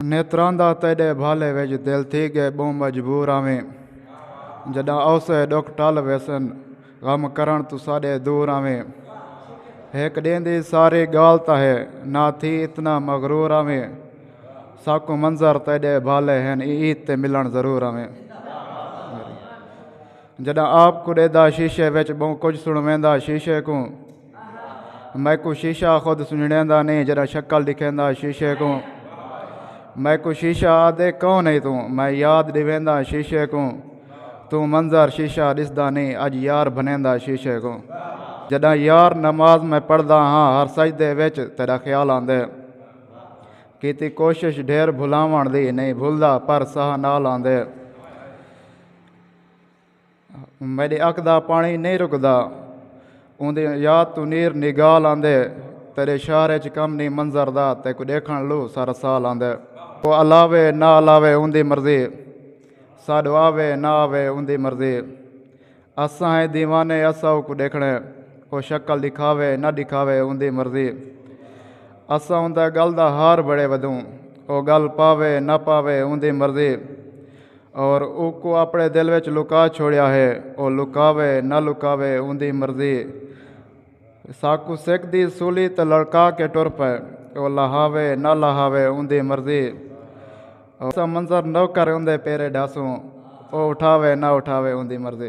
نیتراں دا تیڈے بھالے وچ دل تھی گئے بہوں مجبور آویں جڈاں اوسے ڈکھ ٹل ویسن غم کرن توں ساڈے دور آویں ہک ڈینہہ دی ساری گال تاں ہے نہ تھی اتنا مغرور آویں ساکوں منظر تیڈے بھالے ہن ای عید تے ملن ضرور آویں جڈاں آپ کو ڈیدا شیشے وچ بہوں کچھ سنویندا شیشے کوں میکوں شیشہ خود سنجڑیندا نئیں جیڑھا شکل ڈکھیندا شیشے کوں میکوں شیشہ آدھے کون ہے توں میں یاد ڈیویندا شیشے کوں توں منظر شیشہ ڈسدا نئیں اج یار بھنیندا شیشے کوں جڈاں یار نماز میں پڑھدا ہاں ہر سجدے وچ تیرا خیال آندے کیتی کوشش ڈھیر بھلاون دی نئیں بھلدا پر ساہ نال آندے میݙے اک دا پاݨی نئیں رکدا اوندے یاد توں نیر نگال آندے تیرے شہر اچ کم نئیں منظر دا تیکو ݙیکھݨ لو سارا سال آندے او الاوے نہ الاوے اوندی مرضی ساݙو آوے نہ آوے اوندی مرضی اساں ہیں دیوانے اساں اوکو ݙیکھݨے او شکل ݙکھاوے نہ ݙکھاوے اوندی مرضی اساں اوندا گل دا ہار بڑے ودوں او گل پاوے نہ پاوے اوندی مرضی اور اوکوں اپنے دل وچ لکا چھوڑیا ہے۔ او لکاوے نہ لکاوے اوندی مرضی۔ ساکوں سکھ دی سولی تے لڑکا کے ٹر پئے۔ او لہاوے نہ لہاوے اوندی مرضی۔ ایسا منظر نوکر اوندے پیرے ڈھاسوں۔ او اٹھاوے نہ اٹھاوے اوندی مرضی۔